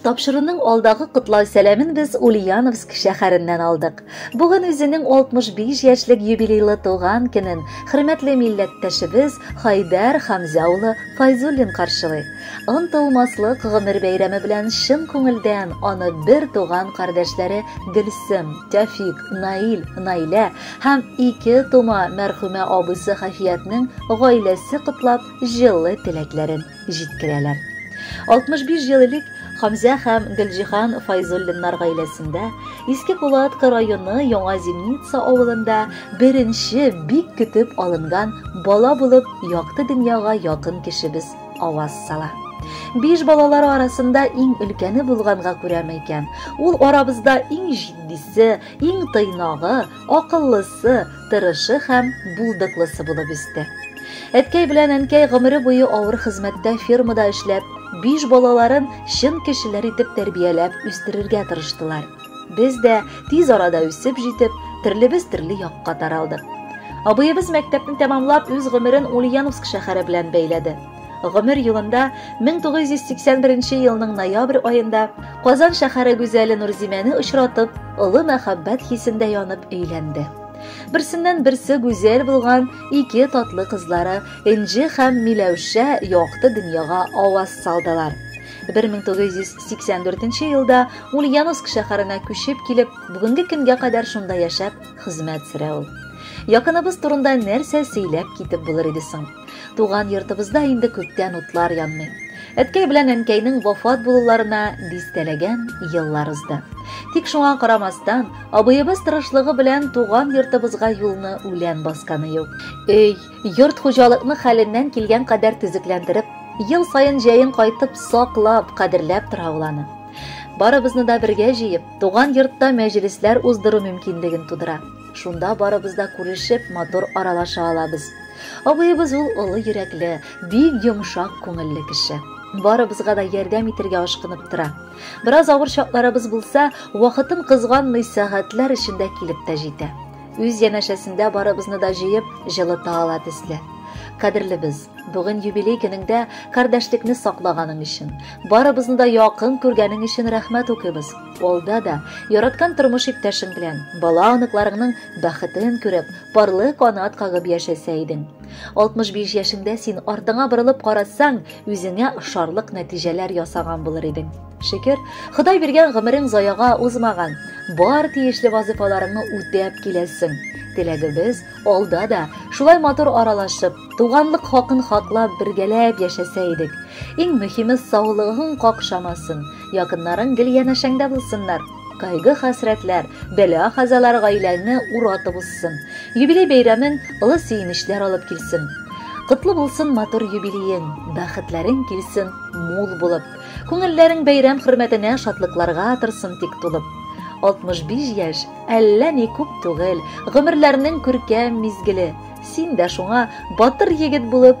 Тапшыруның алдагы котлау сәламен без Ульяновск шәһәреннән алдык. Бүген үзенең 65 яшьлек юбилейлы туган көнен хөрмәтле милләттәшебез Хайдәр Хамза улы Файзуллин каршылый. Онтылмаслык гомер бәйрәме белән чын күңелдән аны бер туган кардәшләре Гөлсем, Тәфик, Наил, Наилә һәм ике тума мәрхүмә абысы Хафиятнең гаиләсе котлап җылы теләкләрен җиткерәләр. 65 ел элек Хамзә һәм Гөлҗиһан Файзуллиннар гаиләсендә Иске Кулатка районы Яңа Зимница авылында беренче бик көтеп алынган бала булып якты дөньяга якын кешебез аваз сала. Биш балалар арасында иң өлкәне булганга күрәме икән, ул арабызда иң җитдисе, иң тыйнагы, акыллысы, тырышы һәм булдыклысы булып үсте. Әткәй белән әнкәй гомере буе авыр хезмәттә фермада эшләп, биш балаларын чын кешеләр итеп тәрбияләп үстерергә тырыштылар. Без дә тиз арада үсеп җитеп, төрлебез төрле якка таралдык. Абыебыз мәктәпне тәмамлап үз гомерен Ульяновск шәһәре белән бәйләде. Гомер юлында 1981 елның ноябрь аенда Казан шәһәре гүзәле Нурзимәне очратып, олы мәхәббәт хисендә янып өйләнде. Берсеннән берсе гүзәл булган ике татлы кызлары Энҗе һәм Миләүшә якты дөньяга аваз салдылар. 1984 елда Ульяновск шәһәренә күчеп килеп, бүгенге көнгә кадәр шунда яшәп хезмәт сөрә ул. Якыныбыз турында нәрсә сөйләп китеп булыр иде соң? Туган йортыбызда инде күптән утлар янмый. Әткәй белән әнкәйнең вафат булуларына дистәләгән еллар узды. Тик шуңа карамастан, абыебыз тырышлыгы белән туган йортыбызга юлны үлән басканы юк. Өй, йорт хуҗалыкны хәленнән килгән кадәр төзекләндереп, ел саен җәен кайтып саклап, кадерләп тора ул аны. Барыбызны да бергә җыеп, туган йортта мәҗлесләр уздыру мөмкинлеген тудыра. Шунда барыбыз да күрешеп, матур аралаша алабыз. Абыебыз ул олы йөрәкле, бик йомшак күңелле кеше. Барыбызга да ярдәм итергә ашкынып тора. Бераз авыр чакларыбыз булса, вакытын кызганмый сәгатьләр эчендә килеп тә җитә. Үз янәшәсендә барыбызны да җыеп, җылыта ала төсле. Кадерлебез, бүген юбилей көнеңдә кардәшлекне саклаганың өчен, барыбызны да якын күргәнең өчен рәхмәт укыйбыз. Алда да яраткан тормыш иптәшең белән, бала-оныкларыңның бәхетен күреп, парлы канат кагып яшәсә идең. 65 яшеңдә син артыңа борылып карасаң, үзеңә ошарлык нәтиҗәләр ясаган булыр идең. Шөкер, Ходай биргән гомерең заяга узмаган. Бар тиешле вазыйфаларыңны үтәп киләсең. Теләгебез алда да шулай матур аралашып, туганлык хакын хаклап бергәләп яшәсә идек. Иң мөһиме саулыгың какшамасын. Якыннарың гел янәшәңдә булсыннар. Кайгы хәсрәтләр, бәла хазалар гаиләңне уратып узсын. Юбилей бәйрәмен олы сөенечләр алып килсен. Котлы булсын матур юбилеең, бәхетләрең килсен мул булып. Күңелләрең бәйрәм хөрмәтенә шатлыкларга торсын тик тулып. 65 яшь, әллә ни күп түгел, гомерләрнең күркәм мизгеле. Син дә шуңа батыр егет булып